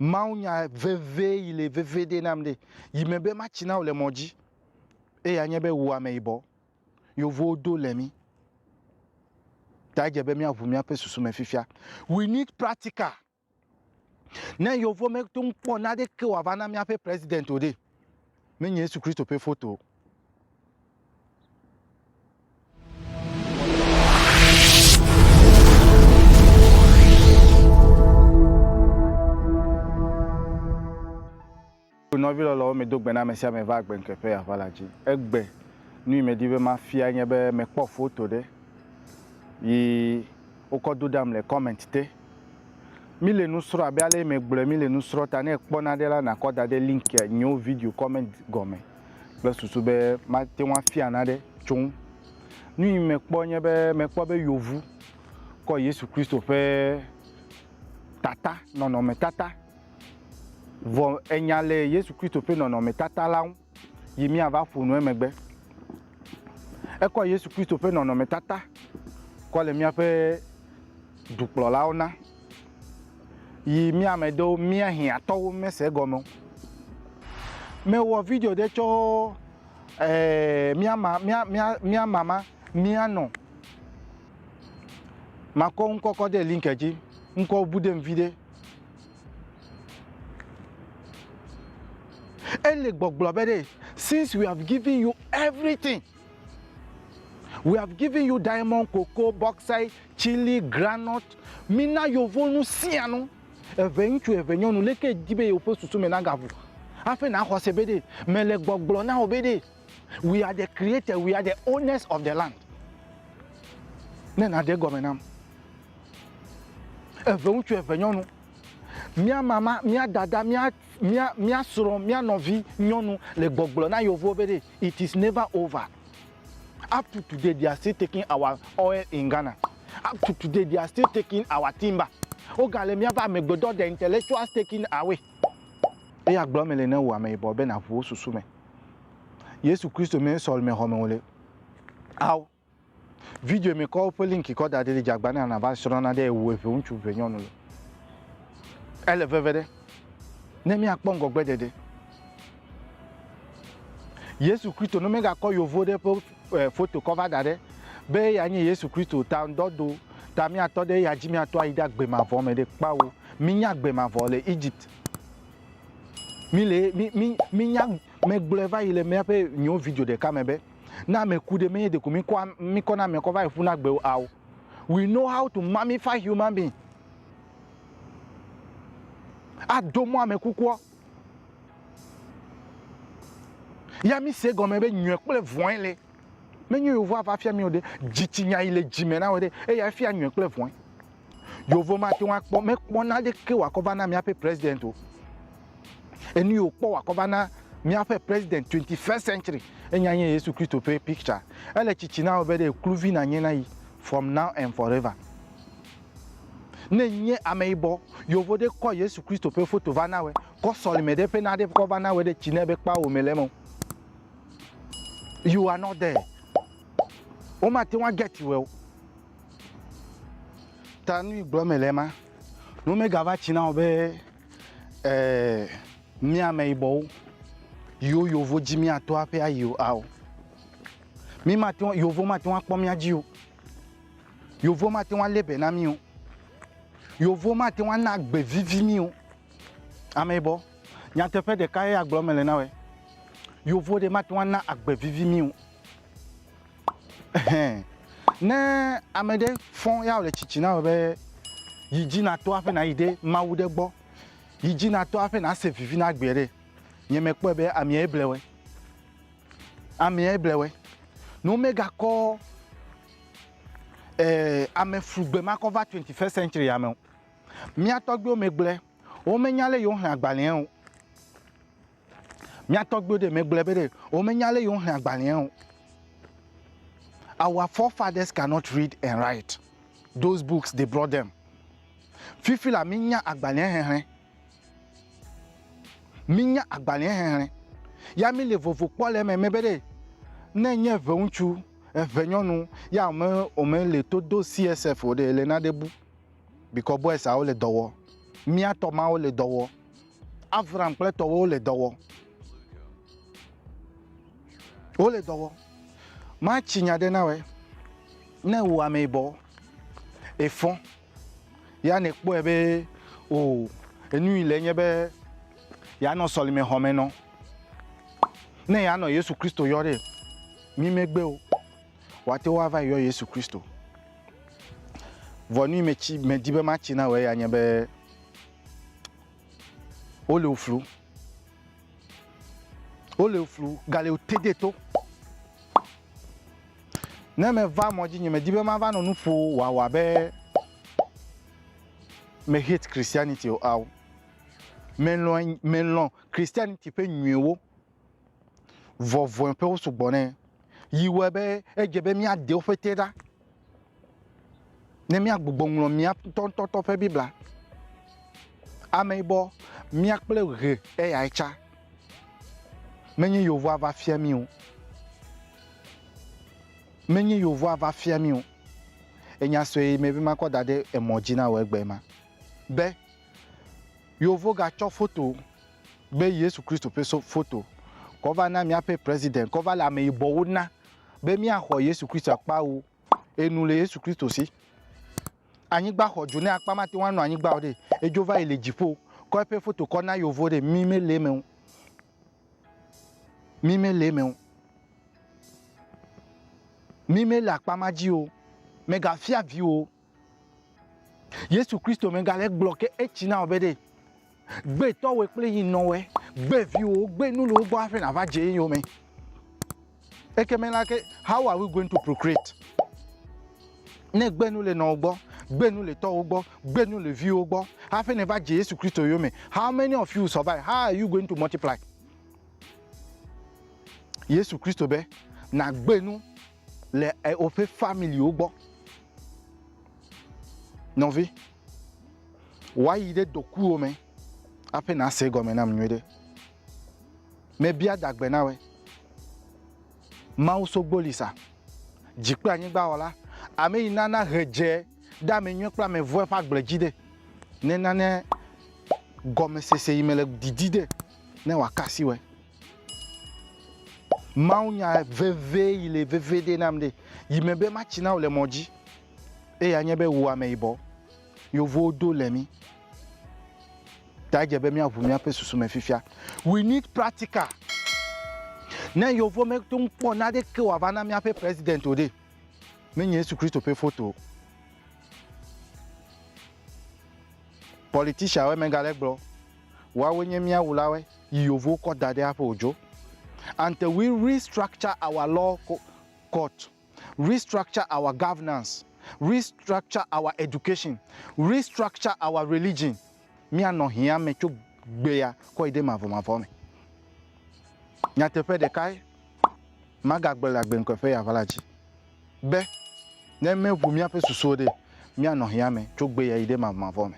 Mawu nya vevie yi le vevie ɖe nam ɖe yi me be matsi na wò le mɔ dzi. Eya nye be wò ameyibɔ yevuwo do le mí. Ta edze be míaʋu míaƒe susu me fifia. We need practical. Ne yevuwo meto ŋu kpɔ naneke wòava na míaƒe president o ɖe, menye Yesu Kristo ƒe foto o. Nɔvi lɔlɔwo medo gbe na ame sia ame va agbe ŋkeƒe yeava la dzi. Egbe nu yi medi be mafia nye be mekpɔ foto ɖe yi wokɔ do ɖam le comment te. Mi le nu srɔ̃ abe ale yi megblɔe mi le nu srɔ̃ ta ne ekpɔ naɖe la nakɔ da ɖe link nyewo video comment gɔme. kple susu be mate ŋu afia naɖe tso eŋu. Nu yi mekpɔ nye be mekpɔ be yevu kɔ Yesu Kristo ƒe tata nɔnɔmetata vɔ enya le Yesu Kristo ƒe nɔnɔmetata la ŋu yi míava ƒo nu emegbe. Ekɔ Yesu Kristo ƒe nɔnɔmetata kɔ le míaƒe dukplɔlawo na. yi mía me ɖewo mía hiãtɔwo mese egɔme o. Mewɔ video ɖe tsɔ eh, mía ma, mía, mía, mía mama, mía nɔ. Makɔ ŋkɔ kɔ ɖe link dzi. Ŋkɔ bu ɖem viɖe. Ele gbɔgblɔ be ɖe, since we have given you everything. We have given you diamond, cocoa, bauxite, chili, granite. Mina yovo nu sia nu. Eve ŋutsu, eve nyɔnu, leke di be yewo ƒe susu me nagaʋu. Hafi na xɔse be ɖe mele gbɔgblɔ na wò be ɖe we are the creator, we are the owners of the land. Ne na de gɔme nam. Eve ŋutsu, eve nyɔnu. Mia mama, mia dada, mia Mía, mía srɔ̃, mía nɔvi nyɔnu le gbɔgblɔ na yeovuwo be ɖe, it is never over. Up to today they are still taking our oil in Ghana. Up to today they are still taking our timber. Woga le míabe amegbedɔ the intellectuals taking away. Eya gblɔ eme le ne wò ameyibɔ be naʋu wò susu me. Yesu Kristo mee sɔlimexɔme wòle. Ao. Video me kɔ woƒe link kɔ da ɖi li dze agba na na va srɔ̃ na ɖe ewu eve ŋutsu eve nyɔnu le. Ele veve ɖe. Ne mia kpɔ ŋgɔgbe ɖeɖe. Yesu Kristo no mega kɔ yovo ɖe ƒe eh, foto kɔ va da ɖe be ya nye Yesu Kristo ta ŋdɔ do ta mia tɔ ɖe ya dzi mia tɔ ayi ɖe agbe ma vɔ me ɖe kpawo. Mi nya agbe ma vɔ le Egypt. Mi le mi mi mi nya me gblɔe va yi le mia ƒe nyo video ɖeka me be. Ne ame ku ɖe, menye ɖeko míkɔ míkɔ na amea kɔ va yi ƒu na gbe o ao. We know how to mummify human being. Ado mɔ ame kukua. Ya mi se gɔme be nyɔe kple vɔe le. Menye yewo va fia mi o ɖe. Dzitsinya yi le dzime na wò ɖe. Eya fia nyɔe kple vɔe. Yeovo mate ŋu akpɔ, mekpɔ naneke wòakɔ va na míaƒe President o. Enu yi wòkpɔ wòakɔ va na míaƒe President twenty first century enya nye Yesu Kristo ƒe picture. Ele tsitsi na wò be ɖe kluvi nànye na yi from now and forever. Ne ènye ameyibɔ, Yeovo ɖe kɔ Yesu Kristo ƒe foto va na wòe, kɔ sɔlime ɖe ƒe naɖe kɔ va na wòe ɖe tsi nɛ be kpao wòmele eme o. You are not there. Womate ŋu a get wòe o. Ta nu yi gblɔm mele ma, nu megava tsi na wò be ee, mí ameyibɔwo yiwo yovo dzi míato aƒe ayi o ao. Mí mate ŋu yovo mate ŋu akpɔ mía dzi o. Yovo mate ŋu alé be na mí o. Yovo mate ŋu ana agbe vivi mí o. Ameyibɔ, nyateƒe ɖeka ye agblɔm mele na wòe. Yovo ɖe mate ŋu ana agbe vivi mí o. Ɛhɛn. Ne ame ɖe fɔn ya wòle tsitsi na wò be yi dzi nato aƒe nayi ɖe Mawu ɖe gbɔ, yi dzi nato aƒe nase vivi na gbea ɖe, nye mekpɔe be amee ble wɔe. Amee ble wɔe. Ne womegakɔ e ameflugbe ma kɔ va twenti fɛst sɛntsia me o. Mía tɔgbuiwo megblɔe. Womenya lé yewoxlẽ agbalẽa o. Mía tɔgbuiwo ɖe megblɔe be ɖe womenya ale yi woxlẽ agbalẽa o. Our forefathers cannot read and write those books they brought them. Fifi la, mínya agbalẽa xexlẽ. Mínya agbalẽa xexlẽ. Ya míle vovo kpɔ le eme be ɖe ne nye eveŋutsu, evenyɔnu ya wome womele to do CSF o ɖe, ele naɖe bu. Bikɔ boys awo le dɔ wɔ. Mía tɔ mawo le dɔ wɔ. Avram kple tɔwo wole dɔ wɔ. Wole dɔ wɔ. Matsi nya ɖe na wɛ. Ne wò ame yibɔ, efɔ, ya ne kpɔe be o enu yi le nye be yanɔ sɔlime xɔ me nɔ. Ne yanɔ Yesu Kristo yɔ ɖe mi megbe o, wate wo ava yɔ Yesu Kristo. Vɔ nu yi me tsi me di be matsi na wɛ ya nye be Wole wo flu. Wole wo flu. Gale wo tede to. Ne meva mɔ dzi nye medi be mava nɔ nu ƒo wòawɔ abe me hate Christianity o ao. Melɔ̃ melɔ̃ Christianity ƒe nyuiwo. vɔvɔ̃e ƒewo sugbɔ nɛ, yi wɔe be edze be míade woƒe te ɖa ne míagbugbɔ ŋlɔ mía ŋutɔŋutɔ ƒe Biblia. Ame yibɔ, mía kple ʋe eyae tsa, menye yevua va fia mí o, menye yevua va fia mí o. Enya sue yi me be makɔ da ɖe emɔ dzi na wò egbe ma be, Yeovo ga tsɔ foto be Yesu Kristo ƒe so foto kɔ va na míaƒe President kɔ va le ame yibɔwo na be mía xɔ Yesu Kristo akpa wo enu le Yesu Kristo si. Anyigba xɔ dzo ne akpa mate ŋu anɔ anyigba o ɖe edzo va yi le dziƒo kɔ eƒe foto kɔ na yeovo ɖe mi me le eme o. Mi me le eme o. Mi me le akpa ma dzi o. Mega fia vi o. Yesu Kristo me ga le gblɔ ke etsi na ɔbe ɖe gbe tɔwe kple yi nɔwe gbe viwo gbe nu le wogbɔ aƒe na va dze eyo me. Eke me la ke how are we going to procreate? Ne gbe nu le nɔwo gbɔ, gbe nu le tɔwo gbɔ, gbe nu le viwo gbɔ, aƒe ne va dze Yesu Kristo yo me. How many of you survive? How are you going to multiply? Yesu Kristo be na gbe nu le woƒe familiwo gbɔ. Nɔvi, woayi ɖe dokuwo me aƒe nase gɔme nam nyuie ɖe. Mebia dagbe na wɔe. Mawu sogboli sa, dzi kple anyigba wɔla, ame yi nana he dze ɖe ame nyuie kple ame vɔ̃e ƒe agble dzi ɖe, nenane gɔmesese yi me le didi ɖe, ne wòaka asi wɔe. Mawunya vevie yi le veviɖe nam ɖe yi me be matsi na wò le mɔ dzi. Eya nye be wò ameyibɔ yevuwo do le mí. Ta edze be míaʋu míaƒe susu me fifia. We need practical. Ne yevuwo mete ŋu kpɔ naneke wòava na míaƒe president o ɖe, menye Yesu Kristo ƒe foto o. Politicianwoe megale gblɔ, woawoe nye mía wulawoe. yi yewo kɔ da ɖe aƒe o dzo. Until we restructure our law court, restructure our governance, restructure our education, restructure our religion, míanɔ hiã me tso gbea kɔ yi ɖe mavɔmavɔ me. Nyateƒe ɖekae, magagblɔ le agbeŋkɔe ƒe ya va la dzi be ne míeʋu míaƒe susuwo ɖe, míanɔ hiã me tso gbea yi ɖe mavɔmavɔ me.